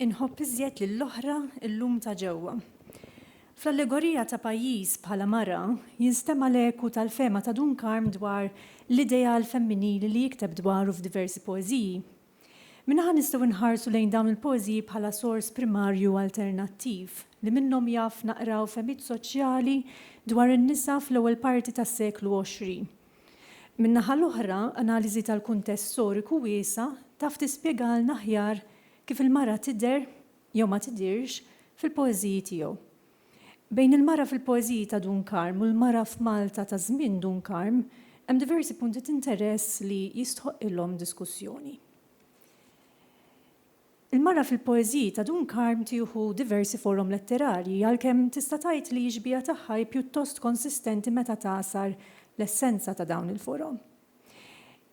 Inħobb iżjed lill-oħra llum ta' ġewwa. Fl-allegorija ta' pajjiż bħala mara jinstema' l-eku tal-fehma ta' Dun Karm dwar l-ideal femminili li jikteb dwaru f'diversi poeżiji. Minn naħa nistgħu nħarsu lejn dawn il-poeżiji bħala sors primarju alternattiv li minnhom jaf naqraw fehmiet soċjali dwar in-nisa fl-ewwel parti tas-seklu għoxrin. Min-naħa l-oħra, analiżi tal-kuntest storiku wiesa' taf tispjegalna aħjar kif il-mara tidher, jew ma tidhirx, fil-poeżiji tiegħu. Bejn il-mara fil-poeżiji ta' Dun Karm u l-mara f'Malta ta' żmien Dun Karm hemm diversi punti t'interess li jistħoqqilhom diskussjoni. Il-mara fil-poeżiji ta' Dun Karm tieħu diversi forom letterarji, għalkemm tista' tgħid li x-xbiha tagħha hi pjuttost konsistenti meta tagħsar l-essenza ta' dawn il-forom.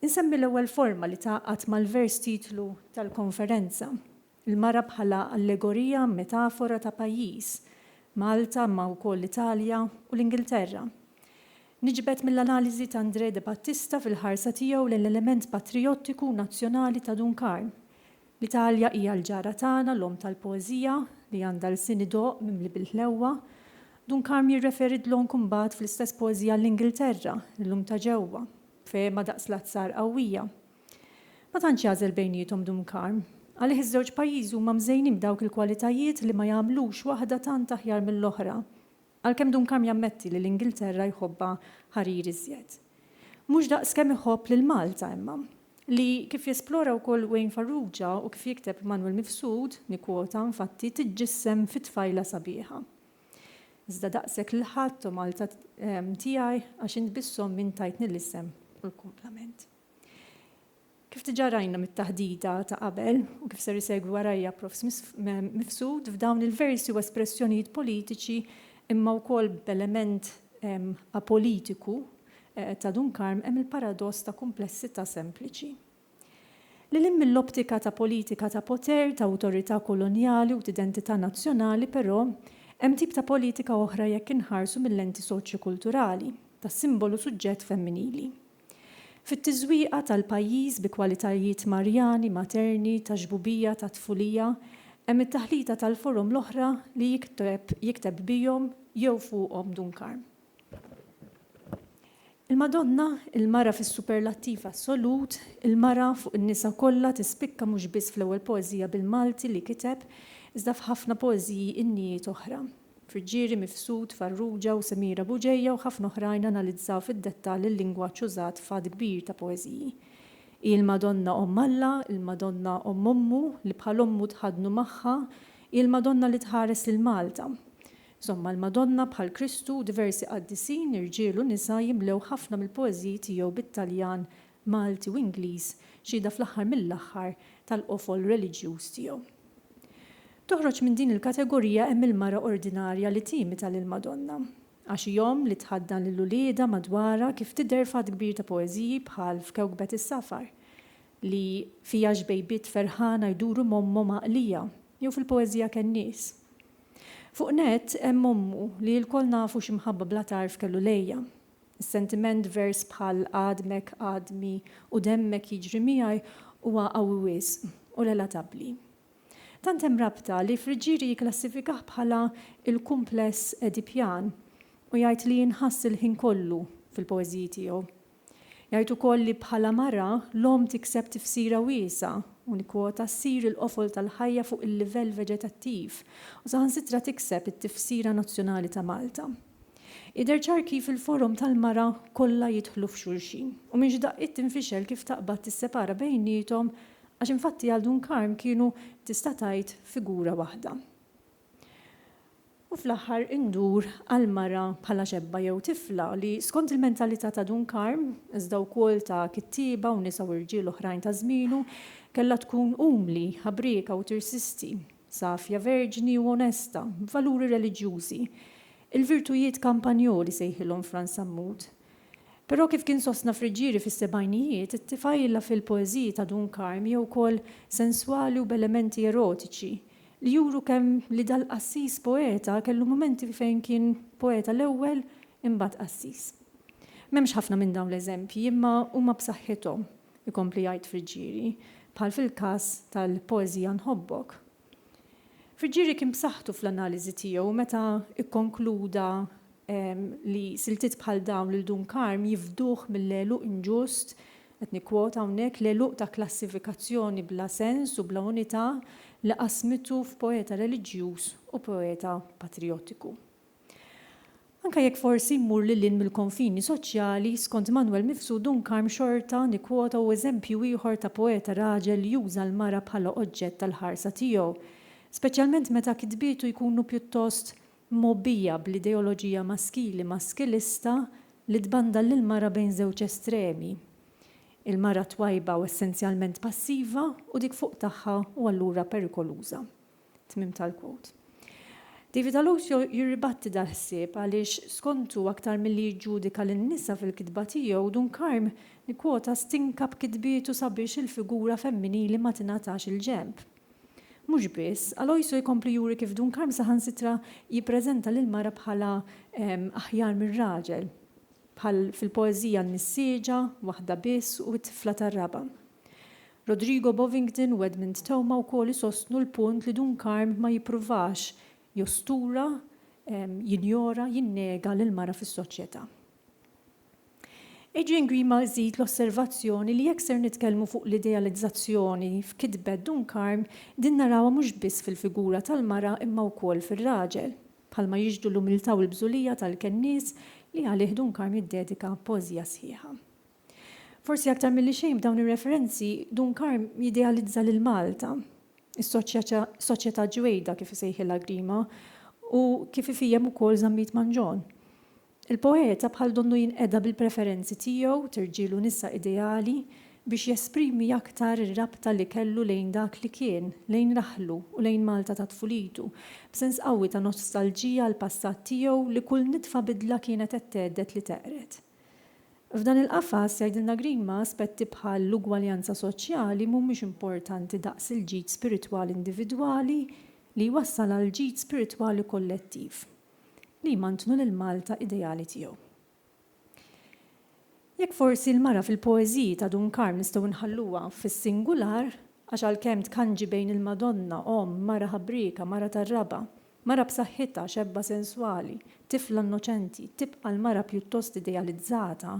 Insemmi l-ewwel forma li tgħaqqad mal-vers titlu tal-konferenza, il-mara bħala allegorija, metafora ta' pajjiż, Malta imma wkoll l-Italja u l-Ingilterra. Niġbed mill-analiżi ta' André Debattista fil-ħarsa tiegħu lejn l-element patrijottiku u nazzjonali ta' Dun Karm, L-Italja hija l-ġara tagħna, l-omm tal-poeżija, li għandha lsien idoqq mimli bil-ħlewwa. Dun Karm jirreferi dlonk imbagħad fl-istess poeżija għall-Ingilterra, l-lum ta' ġewwa, b'fehma daqs l-azzar qawwija. Ma tantx jagħżel bejniethom Dun Karm. Għalih iż-żewġ pajjiżi huma mżejnin b'dawk il-kwalitajiet li ma jagħmlux waħda tant aħjar mill-oħra. Għalkemm Duncalm jammetti li l-Ingilterra jħobbha ħarir iżjed. Mhux daqs kemm iħobb lil Malta imma. Li, kif jesplora wkoll Wayne Farrugia u kif jikteb Manwel Mifsud, nikkwota, infatti, tiġġissem fi tfajla sabiħa. Iżda daqshekk lil ħadd, o Malta tiegħi, għax int biss omm int tajtni l-isem u l-kumplament. Kif diġà rajna mit-taħdita ta' qabel, u kif ser isegwi warajja Prof. Mifsud, f'dawn il-versi u espressjonijiet politiċi imma wkoll b'element apolitiku ta' Dun Karm hemm il-paradoss ta' kumplessità sempliċi. Lil hinn mill-optika ta' politika ta' poter, ta' awtorità kolonjali u t'identità nazzjonali, però, hemm tip ta' politika oħra jekk inħarsu mil-lenti soċjokulturali, tas-simbolu suġġett femminili. Fit-tiżwieqa tal-pajjiż bi kwalitajiet Marjani, Materni, ta' Xbubija, ta' Tfulija, hemm it-taħlita tal-forom l-oħra li jikteb jikteb bihom jew fuqhom Dun Karm. Il-Madonna, il-mara fis-superlattiv assolut, il-mara fuq in-nisa kollha tispikka mhux biss fl-ewwel poeżija bil-Malti li kiteb, iżda f'ħafna poeżiji innijiet oħra. Friggieri, Mifsud, Farrugia u Semira Bugeja u ħafna oħrajn analizzaw fid-dettall il-lingwaġġ użat f'għadd kbir ta' poeżiji. Hi l-Madonna Omm Alla, il-Madonna Omm Ommu, li bħal ommu tħaddnu magħha, hi l-Madonna li tħares lil Malta. Insomma, l-Madonna, bħal Kristu u diversi qaddisin, irġiel u nisa, jimlew ħafna mill-poeżiji tiegħu bit-Taljan Malti u Ingliż, xhieda fl-aħħar mill-aħħar tal-qofol reliġjuż tiegħu. Toħroġ minn din il-kategorija hemm il-mara ordinarja li timita lill-Madonna, għax hi omm li tħaddan lil uliedha madwarha kif tidher f'għadd kbir ta' poeżiji bħal f'Kewkbet is-Safar, li fiha xbejbiet ferħana jduru m'ommhom għaqlija, jew fil-poeżija Kennies. Fuq nett hemm ommu li lkoll nafu x'imħabba bla tarf kellu lejha. Is-sentiment vers bħal għadmek, għadmi u demmek jiġri miegħi huwa qawwi wisq u relatabbli. Tant hemm rabta li Friggieri jikklassifikah bħala l-kumpless Edipjan u jgħid li jinħass il-ħin kollu fil-poeżiji tiegħu. Jgħid ukoll li bħala mara, l-omm tikseb tifsira wiesgħa, u nikkwota, ssir il-qofol tal-ħajja fuq il-livell veġetattiv u saħansitra tikseb it-tifsira nazzjonali ta' Malta. Jidher ċar kif il-forom tal-mara kollha jidħlu f'xulxin u minn xi daqqiet tinfixel kif taqbad tissepara bejniethom għax infatti għal Dun Karm kienu tista' tgħid figura waħda. U fl-aħħar indur għall-mara bħala xebba jew tifla li skont il-mentalità ta' Dun Karm, iżda wkoll ta' kittieba u nisa u rġiel oħrajn ta' żmienu, kellha tkun umli, ħabrieka u tirsisti. safja, verġni u onesta, b'valuri reliġjużi, il-virtujiet kampanjoli sejħilhom Frans Sammut. Però kif kien sostna Friggieri fis-sebgħinijiet, it-tifgħila fil-poeżiji ta' Dun Karm hi wkoll senswali u b'elementi erotiċi, li juru kemm li dal-qassis poeta kellu mumenti fejn kien poeta l-ewwel imbagħad qassis. M'hemmx ħafna minn dawn l-eżempji, imma huma b'saħħithom. ikompli jgħid Friggieri, bħal fil-każ tal-poeżija Nħobbok. Friggieri kien b'saħħtu fl-analiżi tiegħu meta kkonkluda li siltiet bħal dawn lil Dun Karm jifduh mill-għeluq inġust, qed nikkwota hawnhekk, l-għeluq ta' klassifikazzjoni bla sens u bla unità li qasmitu f'poeta reliġjuż u poeta patrijotiku. Anke jekk forsi mmur lil hinn mill-konfini soċjali, skont Manwel Mifsud Dunkarm xorta nikkwota hu eżempju ieħor ta' poeta raġel li juża l-mara bħala oġġett tal-ħarsa tiegħu, speċjalment meta kitbietu jkunu pjuttost mgħobbija bl-ideoloġija maskili maskilista li tbandal lill-mara bejn żewġ estremi, il-mara twajba u essenzjalment passiva u dik fuq tagħha u allura perikoluża. Tmiem tal-quote. David Alosio jirribatti dal-ħsieb għaliex skontu aktar milli jiġġudika lin-nisa fil-kitba tiegħu, Dunkarm nikkwota stinka b'kitbietu sabiex il-figura femminili ma tingħatax il-ġenb. Mhux biss, Alosio jkompli juri kif Dunkarm saħansitra jippreżenta lill-mara bħala aħjar mir-raġel, bħal fil-poeżija N-Nissieġa, Waħda Biss u T-Tifla tar-Raba'. Rodrigo Bovingdon u Edmund Theuma wkoll isostnu l-punt li Dun Karm ma jippruvax jostura, jinjora, jinnega lill-mara fis-soċjetà. Adrian Grima iżid l-osservazzjoni li jekk ser nitkellmu fuq l-idealizzazzjoni f'kitbet Dun Karm, din narawha mhux biss fil-figura tal-mara imma wkoll fir-raġel, bħalma jixhdu l-umiltà u l-bżulija tal-kennies li għalih Dun Karm jiddedika poeżija sħiħa. Forsi aktar milli xejn b'dawn ir-referenzi, Dun Karm jidealizza lil Malta, is-soċjetà ġwejda kif isejħilha Grima, u kif ifhiehem ukoll Zammit Manġon. Il-poeta bħal donnu jinqeda bil-preferenzi tiegħu t'irġiel u nisa ideali biex jesprimi aktar ir-rabta li kellu lejn dak li kien, lejn raħlu u lejn Malta ta' tfulitu, b'sens qawwi ta' nostalġija għall-passat tiegħu li kull nitfa bidla kienet qed tgħedded li teqred. F'dan il-qafas, jgħidilna Grima, aspetti bħal l-ugwaljanza soċjali mhumiex importanti daqs il-ġid spiritwali individwali li jwassal għal ġid spiritwali kollettiv li jmantnu lill-Malta ideali tiegħu. Jekk forsi l-mara fil-poeżiji ta' Dun Karm nistgħu nħalluha fis-singular, għax għalkemm tkanġi bejn il-Madonna, omm, mara ħabrieka, mara tar-raba', Mara b'saħħitha, xebba senswali, tifla innoċenti, tibqa' l-mara pjuttost idealizzata,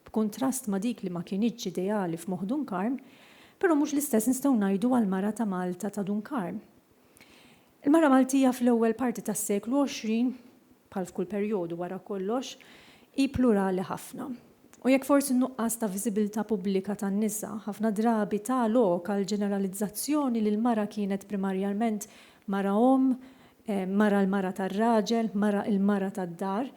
b'kuntrast ma' dik li ma kinitx ideali f'moħħ Dunkarm, però mhux l-istess nistgħu ngħidu għall-mara ta' Malta ta' Dunkarm. Il-mara Maltija fl-ewwel parti tas-seklu għoxrin, bħal f'kull perjodu wara kollox, hi plurali ħafna. U jekk forsi n-nuqqas ta' viżibilità pubblika tan-nisa ħafna drabi ta lok għall-ġeneralizzazzjoni li l-mara kienet primarjarment Mara omm, mara l-mara tar-raġel, mara il-mara tad-dar,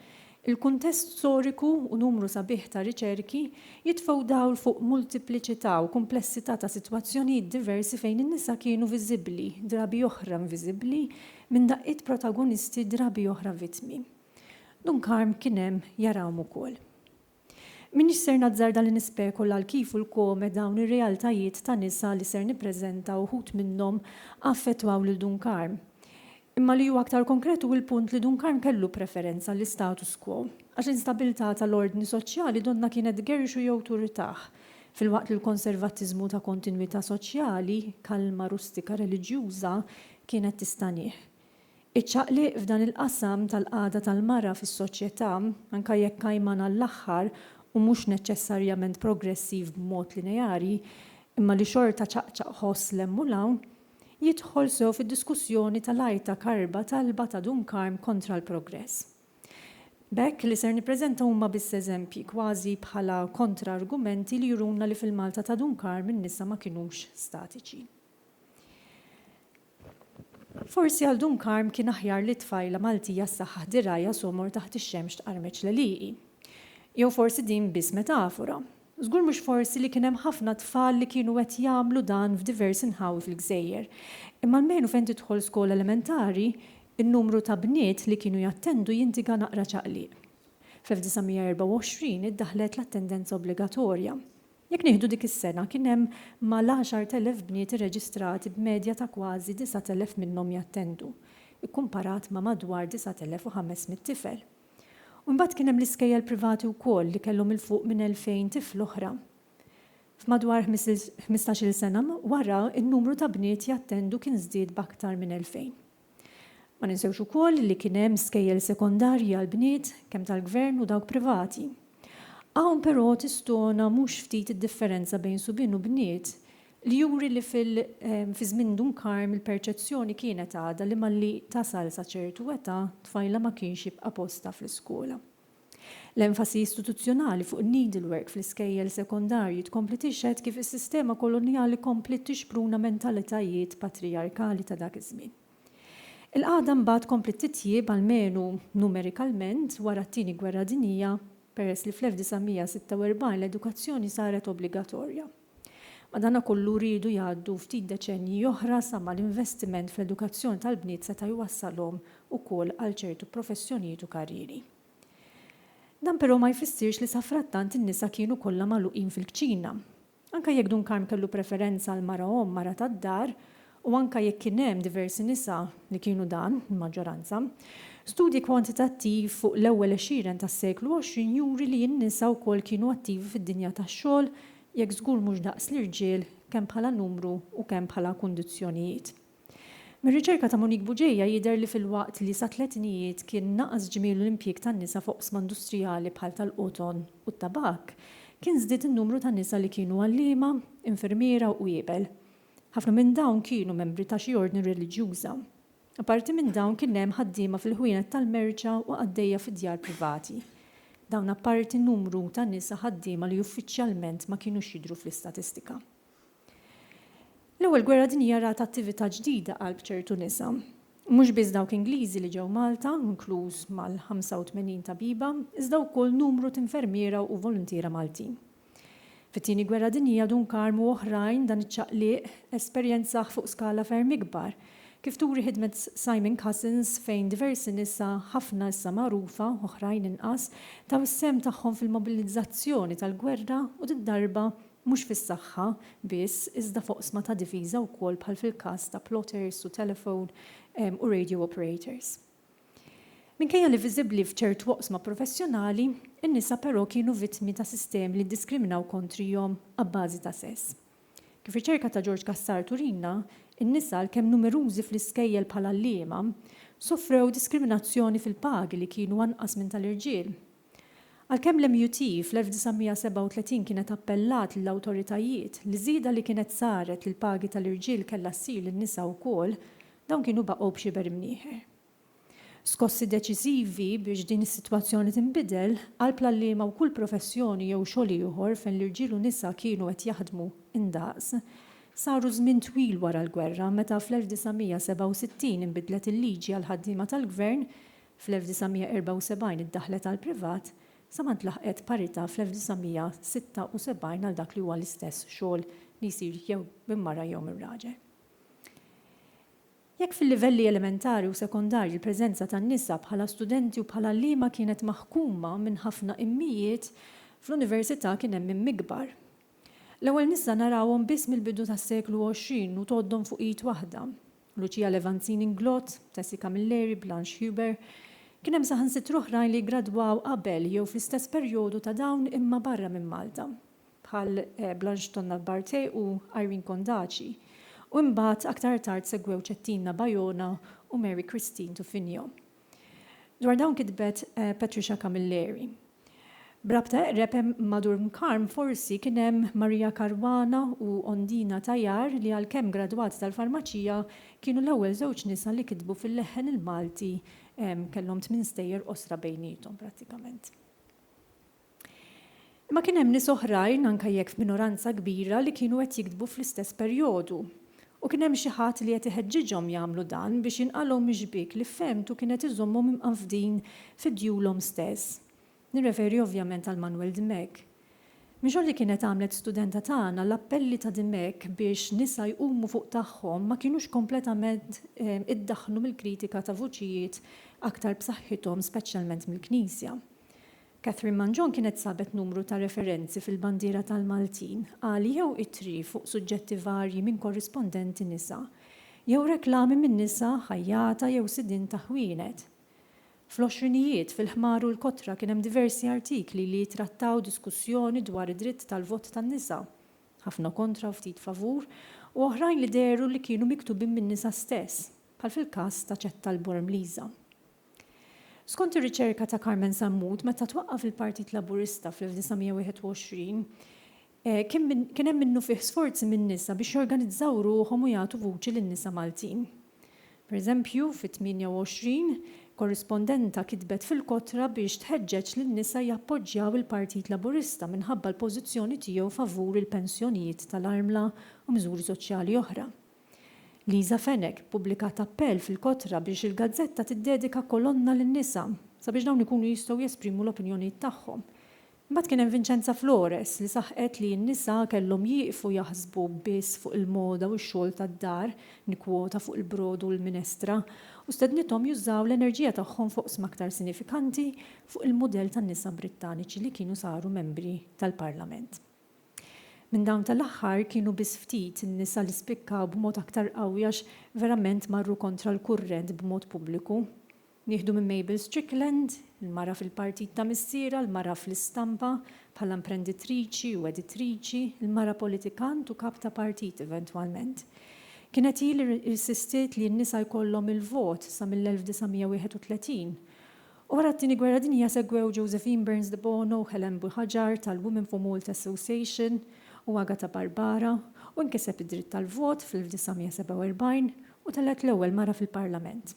il-kuntest storiku u numru sabiħ ta' riċerki jitfgħu dawl fuq multipliċità u kumplessità ta' sitwazzjonijiet diversi fejn in-nisa kienu viżibbli, drabi oħra inviżibbli, minn daqqiet protagonisti drabi oħra vittmi. Dun Karm kien hemm jarahom ukoll. M'iniex ser nazzarda li nispekula l-kif u l-kome dawn ir-realtajiet ta' nisa li ser nippreżenta uħud minnhom affettwaw lil Dun Karm. Imma li hu aktar konkret hu l-punt li Dun Karm kellu preferenza għall-istatus quo, għax l-instabilità tal-ordni soċjali donnha kienet tgerrixu jew turritah, filwaqt li l-konservattiżmu ta' kontinwità soċjali, kalma rustika reliġjuża, kienet tistanih. Iċ-ċaqliq f'dan il-qasam tal-qagħda tal-mara fis-soċjetà, anke jekk għajman għall-aħħar u mhux neċċessarjament progressiv b'mod lineari, imma li xorta ċaqċaq ħoss 'l hemm u 'l hawn, jidħol sew fid-diskussjoni tal-għajta karba talba ta' Dun Karm kontra l-progress. B'hekk, li ser nippreżenta huma biss eżempji, kważi bħala kontra-argumenti li juruna li fil-Malta ta' Dun Karm in-nisa ma kinux statiċi. Forsi għal Dun Karm kien aħjar li t-tfajla Maltija ssaħħaħ dirgħajha somor taħt ix-xemx tqarmeċ l-għelieqi. Jew forsi din biss metafora. Żgur mhux forsi li kien hemm ħafna tfal li kienu qed jagħmlu dan f'diversi nħawi fil-gżejjer. Imma almenu fejn tidħol skola elementari, in-numru ta' bniet li kienu jattendu jindiga naqra ċaqliq. Fl-1924 iddaħħlet l-attendenza obbligatorja. Jekk nieħdu dik is-sena, kien hemm mal-10,000 bniet irreġistrati b'medja ta' kważi 9,000 minnhom jattendu, ikkumparat ma' madwar 9,500 tifel. U mbagħad kien hemm l-iskejjel privati wkoll li kellhom 'il fuq minn 2,000 tifl oħra. F'madwar ħmistax-il sena wara, in-numru ta' bniet jattendu kien żdied b'aktar minn 2,000. Ma ninsewx ukoll li kien hemm skejjel sekondarji għall-bniet, kemm tal-Gvern u dawk privati. Hawn però tistona mhux ftit id-differenza bejn subien u bniet li juri li fil fi żmien Dun Karm il-perċezzjoni kienet għadha li malli tasal sa ċertu età tfajla ma kienx jibqa' postha fl-iskola. L-enfasi istituzzjonali fuq in-needlework fl-iskejjel sekondarji tkompli tixhed kif is-sistema kolonjali kompliet tixpruna mentalitajiet patrijarkali ta' dak iż-żmien. Il-qagħda mbagħad kompliet titjieb, almenu numerikalment, wara t-Tieni Gwerra Dinjija, peress li fl-1946 l-edukazzjoni saret obbligatorja. Madanakollu riedu jgħaddu ftit deċennji oħra sa ma l-investiment fl-edukazzjoni tal-bniet seta' jwassalhom ukoll għal ċertu professjonijiet u karrieri. Dan però ma jfissirx li safrattant in-nisa kienu kollha magħluqin fil-kċina. Anke jekk Dun Karm kellu preferenza għall-mara omm, mara tad-dar, u anke jekk kien hemm diversi nisa li kienu dan, il-maġġoranza, studji kwantitattiv fuq l-ewwel għexieren tas-seklu 20 juri li n-nisa wkoll kienu attivi fid-dinja tax-xogħol, jekk żgur mhux daqs l-irġiel, kemm bħala numru u kemm bħala kundizzjonijiet. Mir-riċerka ta' Monique Bugeja jidher li filwaqt li sat-tletinijiet kien naqas ġmielu l-impjieg tan-nisa f'oqsma industrijali bħal tal-qoton u t-tabakk, kien żdied in-numru ta' nisa li kienu għalliema, infermiera u qwiebel. Ħafna minn dawn kienu membri ta' xi ordni reliġjuża. Apparti minn dawn kien hemm ħaddiema fil-ħwienet tal-merċa u qaddejja fi djar privati. Dawn apparti numru ta' nisa ħaddiema li uffiċjalment ma kinux jidhru fl-istatistika. L-Ewwel Gwerra Dinjija rat attività ġdida qalb ċertu nisa. Mhux biss dawk Ingliżi li ġew Malta, inkluż mal-85 tabiba, iżda wkoll numru t'infermiera u voluntiera Maltin. Fit-Tieni Gwerra Dinjija Dun Karm u oħrajn dan iċ-ċaqliq esperjenzah fuq skala ferm ikbar, kif turi ħidmet Simon Cousins fejn diversi nisa, ħafna issa magħrufa, oħrajn inqas, taw is-sehem tagħhom fil-mobilizzazzjoni tal-gwerra u did-darba mhux fis-saħħa biss iżda f'oqsma ta' difiża wkoll bħal fil-każ ta' plotters u telephone u radio operators. Minkejja li viżibbli f'ċertu oqsma professjonali, in-nisa però kienu vittmi ta' sistemi li ddiskriminaw kontrihom abbażi ta' sess. Kif riċerka ta' George Cassar turina, in-nisa, għalkemm numerużi fl-iskejjel bħala għalliema, sofrew diskriminazzjoni fil-pagi li kienu anqas minn tal-irġiel. Għalkemm l-MUT fl-1937 kienet appellat lill-awtoritajiet li ż-żieda li kienet saret lill-pagi tal-irġiel kellha ssir lin-nisa wkoll, dawn kienu baqgħu b'xi ber imnieħer. Skossi deċiżivi biex din is-sitwazzjoni tinbidel, qalb l-għalliema u kull professjoni jew xogħol ieħor fejn l-irġiel u nisa kienu qed jaħdmu indaqs, saru żmien twil wara l-gwerra meta fl-1967 inbidlet il-liġi għall-ħaddiema tal-gvern Fl-1974 iddaħħlet għall-privat sa ma ntlaħqet parità fl-1976 għal dak li huwa l-istess xogħol li jsir jew minn mara jew minn raġel. Jekk fil-livelli elementari u sekondarji l-preżenza tan-nisa bħala studenti u bħala għalliema kienet maħkuma minn ħafna immijiet, fl-università kien hemm imm ikbar. L-ewwel nisa narawhom biss mill-bidu tas-seklu għoxrin u tgħoddhom fuq id waħda. Lucia Levanzini Nglot, Tessie Camilleri, Blanche Huber. Kien hemm saħansitra oħrajn li ggradwaw qabel jew fl-istess perjodu ta' dawn imma barra minn Malta, bħal Blanche Tonnat Barthé u Irene Condaci, u imbagħad aktar tard segwew Cettina Bajona u Mary Christine Tufinho. Dwar dawn kitbet Patricia Camilleri. B'rabta eqreb ma' Durmkarm forsi kien hemm Maria Caruana u Ondina Tajar li għalkemm gradwati tal-farmaċija kienu l-ewwel żewġ nisa li kitbu fil-leħħen il-Malti kellhom tmien stejjer qosra bejniethom prattikament. Imma kien hemm nies oħrajn anke jekk f'minoranza kbira li kienu qed jiktbu fl-istess perjodu U kien hemm xi ħadd li qed iħeġġiġhom jagħmlu dan biex jinqalgħu mix-xbiek li fehmtu kien qed iżommhom imqanfdin fi djulhom stess. Nirreferi ovvjament għal Manuel Dimech. Minn xogħol li kienet għamlet studenta tagħna, l-appelli ta' Dimech biex nisa jqumu fuq tagħhom ma kienux kompletament iddaħħlu mill-kritika ta' vuċijiet aktar b'saħħithom speċjalment mill-Knisja. Catherine Mangion kienet sabet numru ta' referenzi fil-bandiera tal-Maltin għal jew ittri fuq suġġetti varji minn korrispondenti nisa, jew reklami minn nisa ħajjata jew sidien ta' ħwienet. Fl-għoxrinijiet, fil-Ħmar u l-Kotra kien hemm diversi artikli li jittrattaw diskussjoni dwar id-dritt tal-vot tan-nisa, ħafna kontra u ftit favur, u oħrajn li dehru li kienu miktubin min-nisa stess, bħal fil-każ ta' Cetta l-Bormliża. Skont ir-riċerka ta' Carmen Sammut, meta twaqqaf il-Partit Laburista fl-1921, kien hemm minnufih sforzi min-nisa biex jorganizzaw ruħhom u jagħtu vuċi lin-nisa Maltin. Pereżempju, fit-28, korrispondenta kitbet fil-Kotra biex tħeġġeġ lin-nisa jappoġġjaw il-Partit Laburista minħabba l-pożizzjoni tiegħu favur il-pensjonijiet tal-armla u miżuri soċjali oħra. Liza Fenech ppubblikat appell fil-Kotra biex il-gazzetta tiddedika kolonna lin-nisa sabiex dawn ikunu jistgħu jesprimu l-opinjonijiet tagħhom. Imbagħad kien hemm Vincenza Flores li saħqet li n-nisa kellhom jieqfu jaħsbu biss fuq il-moda u x-xogħol tad-dar, nikkwota fuq il-brodu u l-minestra, u stednithom jużaw l-enerġija tagħhom f'oqsma aktar sinifikanti fuq il-mudell tan-nisa Brittaniċi li kienu saru membri tal-Parlament. Minn dawn tal-aħħar kienu biss ftit in-nisa li spikkaw b'mod aktar qawwi għax verament marru kontra l-kurrent b'mod pubbliku. Nieħdu minn Mabel Strickland, il-mara fil-partit ta' missierha, l-mara fl-istampa, bħala imprenditriċi u editriċi, il-mara politikant u kap ta' partit eventwalment. Kienet hi li rsistiet li n-nisa jkollhom il-vot sa mill-1931 Wara t-Tieni Gwerra Dinjija segwew Josephine Burns de Bono, Helen Buhagiar tal-Women for Malta Association u Agata Barbara, u nkiseb id-dritt tal-vot fl-1947 u telgħet l-ewwel mara fil-Parlament.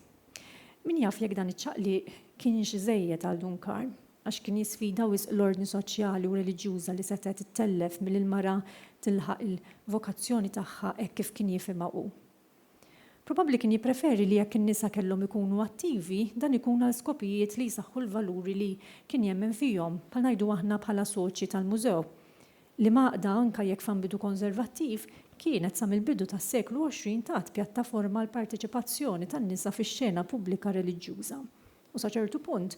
Min jaf jekk dan iċ-ċaqliq kienx iżejjed għal Dun Karm, għax kien jisfida wisq l-ordni soċjali u reliġjuża li setgħet ittellef milli l-mara tilħaq il-vokazzjoni tagħha hekk kif kien jifhimha hu. Probabbli kien jippreferi li jekk in-nisa kellhom ikunu attivi, dan ikun għal skopijiet li jsaħħu l-valuri li kien jemmen fihom, bħal ngħidu aħna bħala soċi tal-mużew. Liema għaqda, anke jekk f'ambitu konservattiv, kienet sa mill-bidu tas-seklu 20 tat pjattaforma għall-parteċipazzjoni tan-nisa fix-xena pubblika reliġjuża u sa ċertu punt,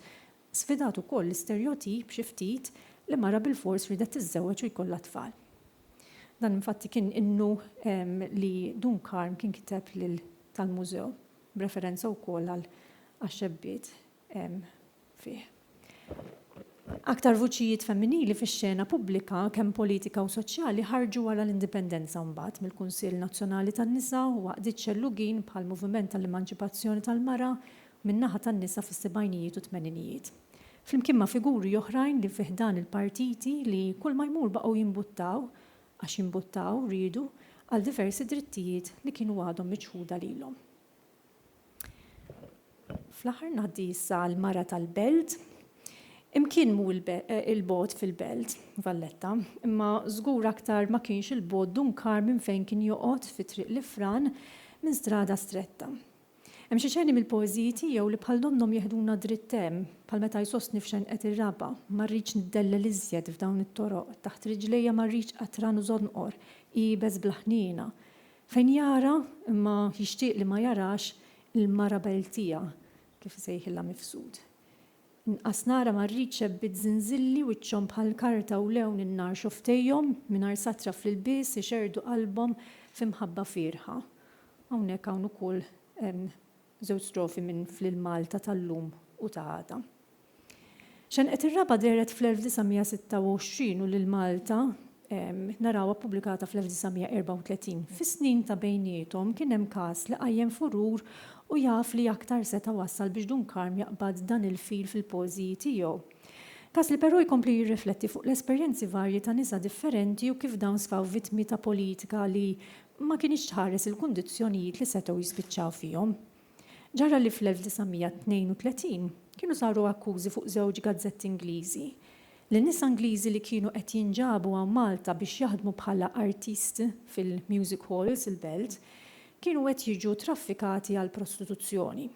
Sfidat ukoll l-isterjotip xi ftit li mara bilfors riedet tiżżewweġ u jkollha tfal. Dan infatti kien innu li Dun Karm kien kiteb lil tal-Mużew, b'referenza wkoll għal għax-xebbiet fih. Aktar vuċijiet femminili fix-xena pubblika kemm politika u soċjali ħarġu wara l-Indipendenza u mbagħad mill-Kunsill Nazzjonali tan-Nisa u għaqdiet xellugin bħall-Moviment għall-Emanċipazzjoni tal-Mara min-naħa tan-nisa fis-sebgħinijiet u t-tmeninijiet. Flimkien ma' figuri oħrajn li fi ħdan il-partiti li kull ma jmur baqgħu jimbuttaw, għax jimbuttaw, riedu, għal diversi drittijiet li kienu għadhom miċħuda lilhom. Fl-aħħar ngħaddi issa għall-mara tal-Belt. Imkien mhu il-bogħod fil-Belt, Valletta, imma żgur aktar ma kienx il-bogħod Dun Karm minn fejn kien joqgħod fi Triq l-Ifran minn strada stretta. Hemm xi xeni mill-poeżiji tiegħu li bħal donnhom jeħduna dritt hemm, bħal meta jsostni f'Xenqet ir-Raba', Ma rridx niddellel iżjed f'dawn it-toroq, taħt riġlejja ma rridx qatran u żonqor, iebes bla ħniena. Fejn jara, imma jixtieq li ma jarax, il-Marabel tiegħu, kif isejħilha Mifsud. Inqas nara ma rridx xebbit żinżilli wiċċhom bħal karta u lewn in-nar xofftejhom mingħajr satra fl-ilbies ixerrdu qalbhom fi mħabba fierħa. Hawnhekk hawn ukoll żewġ strofi minn Fl-Malta tal-lum u ta' għada. Xenqet ir-raba' dehret fl-1926 u lil Malta narawha ppubblikata fl-1934. Fis-snin ta' bejniethom kien hemm każ li qajjem furur u jaf li aktar seta' wassal biex Dun Karm jaqbad dan il-fil fil-poeżiji tiegħu. Każ li però jkompli jirrifletti fuq l-esperjenzi varji ta' nisa differenti u kif dawn sfaw vittmi ta' politika li ma kinitx tħares il-kundizzjonijiet li setgħu jispiċċaw fihom. Ġara li fl-1932 kienu saru akkużi fuq żewġ gazzetti Ingliżi li nisa Ingliżi li kienu qed jinġabu hawn Malta biex jaħdmu bħala artist fil-music halls il-belt kienu qed jiġu traffikati għall-prostituzzjoni.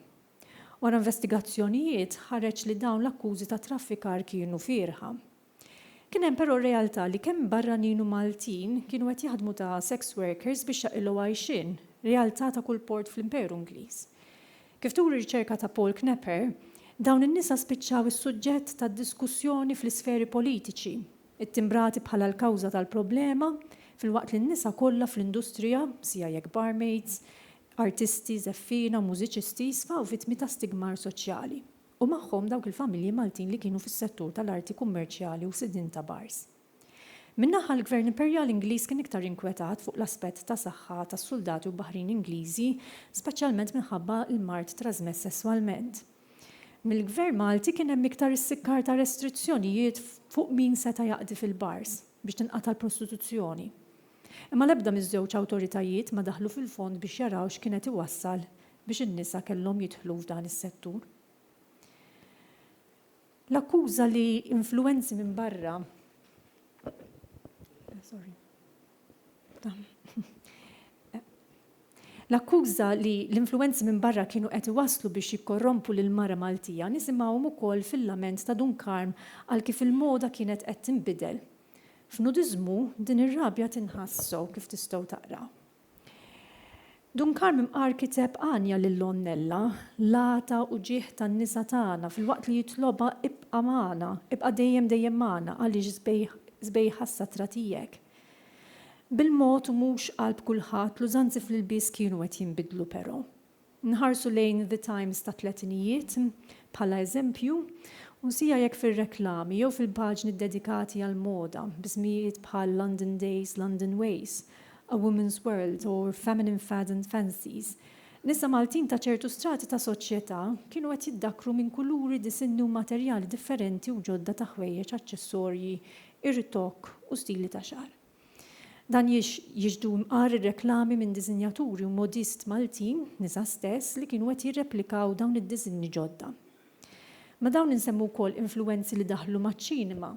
Wara investigazzjonijiet ħareġ li dawn l-akkużi ta' traffikar kienu fierħa. Kien hemm però realtà li kemm barranin u Maltin kienu qed jaħdmu ta' sex workers biex jaqilgħu għajxien, realtà ta' kull port fl-Imperu Ingliż. Kif turi riċerka ta' Paul Knepper, dawn in-nisa spiċċaw is-suġġett ta' diskussjoni fl-isferi politiċi, ittimbrati bħala l-kawża tal-problema, filwaqt li n-nisa kollha fl-industrija, sia jekk barmaids, artisti, żeffiena, mużiċisti, sfaw vittmi ta' stigmar soċjali. u magħhom dawk il-familji Maltin li kienu fis-settur tal-arti kummerċjali u sidien ta' bars. Minn naħa l-Gvern Imperjali Ingliż kien iktar inkwetat fuq l-aspett ta' saħħa tas-suldati u baħrin Ingliżi, speċjalment minħabba l-mard trażmess sesswalment. Mill-Gvern Malti kien hemm iktar issikkar ta' restrizzjonijiet fuq min seta' jaqdi fil-bars biex tinqata' l-prostituzzjoni. Imma l-ebda miż-żewġ awtoritajiet ma daħlu fil-fond biex jaraw x'kien qed iwassal biex in-nisa kellhom jidħlu f'dan is-settur. L-akkuża li influwenzi minn barra L-akkuża li l-influwenzi minn barra kienu qed iwasslu biex jikkorrompu lill-mara Maltija nisimgħuhom ukoll fil-lament ta' Dun Karm għal kif il-moda kienet qed tinbidel. F'nudiżmu, din ir-rabja tinħass sew kif tistgħu taqraw. Dun Karm Mqar kiteb għanja lil Omm Nella, l-għata u ġieħ tan-nisa tagħna filwaqt li jitlobha ibqa' magħna, ibqa' dejjem dejjem magħna għaliex sbejħa s-satra tiegħek. Bil-mod u mhux qalb kulħadd l-użanzi fl-ilbies kienu qed jinbidlu però. Nħarsu lejn The Times tat-tletinijiet bħala eżempju, u nsija jekk fir-reklami jew fil-paġni ddedikati għall-moda, b'ismijiet bħal London Days, London Ways, A Woman's World u Feminine Fads and Fancies, nisa Maltin ta' ċertu strati ta' soċjetà kienu qed jiddakkru minn kuluri, disinni u materjali differenti u ġodda ta' ħwejjeġ, aċċessorji, irtokk u stili ta' xagħar. Dan jiex jiġdu mqar ir-reklami minn diżinjaturi u modist Maltin, nisa stess, li kienu qed jirreplikaw dawn id-diżinji ġodda. Ma' dawn insemmu wkoll influwenzi li daħlu maċ-ċinema.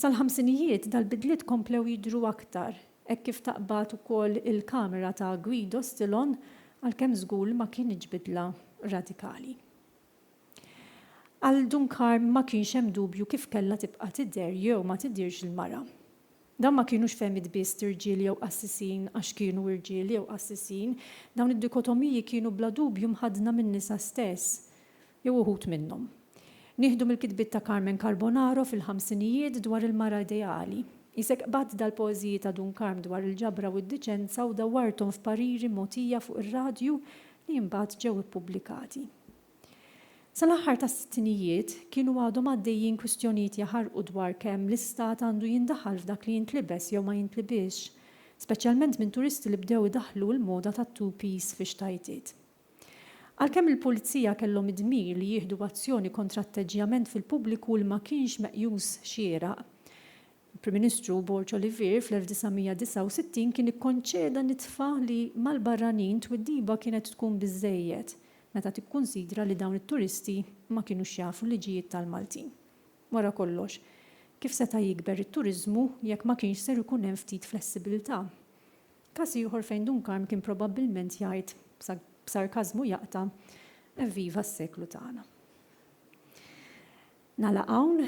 Sal-ħamsinijiet dal-bidliet komplew jidhru aktar, hekk kif taqbad ukoll il-kamera ta' Guido Stillon, għalkemm żgur li ma kinitx bidla radikali. Għal Duncar ma kienx hemm dubju kif kellha tibqa' tidher jew ma tidhirx il-mara. Dawn ma kinux fehmiet biss t'irġiel jew qassisin għax kienu irġiel jew qassisin, dawn id-dikotomiji kienu bla dubju mħaddna min-nisa stess, jew uħud minnhom. Nieħdu mill-kitbiet ta' Carmen Carbonaro fil-ħamsinijiet dwar il-mara ideali. Qisek qbadt dal-poeżiji ta' Dun Karm dwar il-ġabra u d-diċenza u dawwarthom f'pariri mogħtija fuq ir-radju li imbagħad ġew ippubblikati. Sal-aħħar tas-sittinijiet, kienu għadhom għaddejjin kwistjonijiet jaħarqu dwar kemm l-Istat għandu jindaħal f'dak li jintlibes jew ma jintlibisx, speċjalment minn turisti li bdew idaħħlu l-moda tat-two-piece fix-xtajtiet. Għalkemm il-Pulizija kellhom id-dmir li jieħdu azzjoni kontra atteġġjament fil-pubbliku li ma kienx meqjus xieraq, Il-Prim Ministru Borg Olivier fl-1969 kien ikkonċeda nitfa li mal-barranin twiddiba kienet tkun biżżejjed meta tikkunsidra li dawn it-turisti ma kinux jafu l-liġijiet tal-Maltin. Wara kollox, kif seta' jikber it-turiżmu jekk ma kienx ser ikun hemm ftit flessibilità? Każ ieħor fejn Dun Karm kien probabbilment jgħid, b'sarkażmu jaqta', Evviva s-seklu tagħna. Nagħlaq hawn.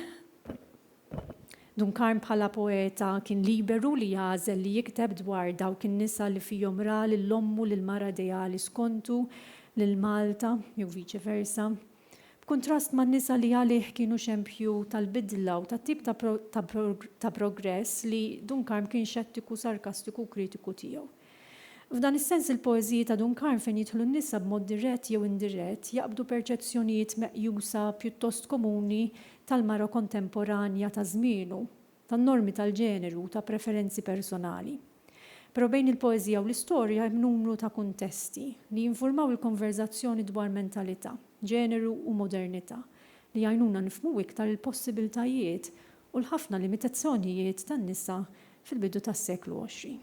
Dunkarn bħala poeta kien liberu li jagħżel li jikteb dwar dawk in-nisa li fihom ra lil ommu l-mara ideali skontu, lil Malta, jew viċi versa. B'kuntrast man-nisa li għalih kienu xempju tal-bidla u tat-tip ta' progress li Dunkarn kien xettiku, sarkastiku u kritiku tiegħu. F'dan is-sens il-poeżiji ta' Dun Karm fejn jidħlu n-nisa b'mod dirett jew indirett jaqbdu perċezzjonijiet meqjusa pjuttost komuni tal-mara kontemporanja ta' żmienu, ta' normi tal-ġeneru u ta' preferenzi personali. Però bejn il-poeżija u l-istorja hemm numru ta' kuntesti li jinfurmaw il-konverżazzjoni dwar mentalità, ġeneru u modernità li jgħinuna nifhmu iktar il-possibiltajiet u l-ħafna limitazzjonijiet tan-nisa fil-bidu tas-seklu għoxrin.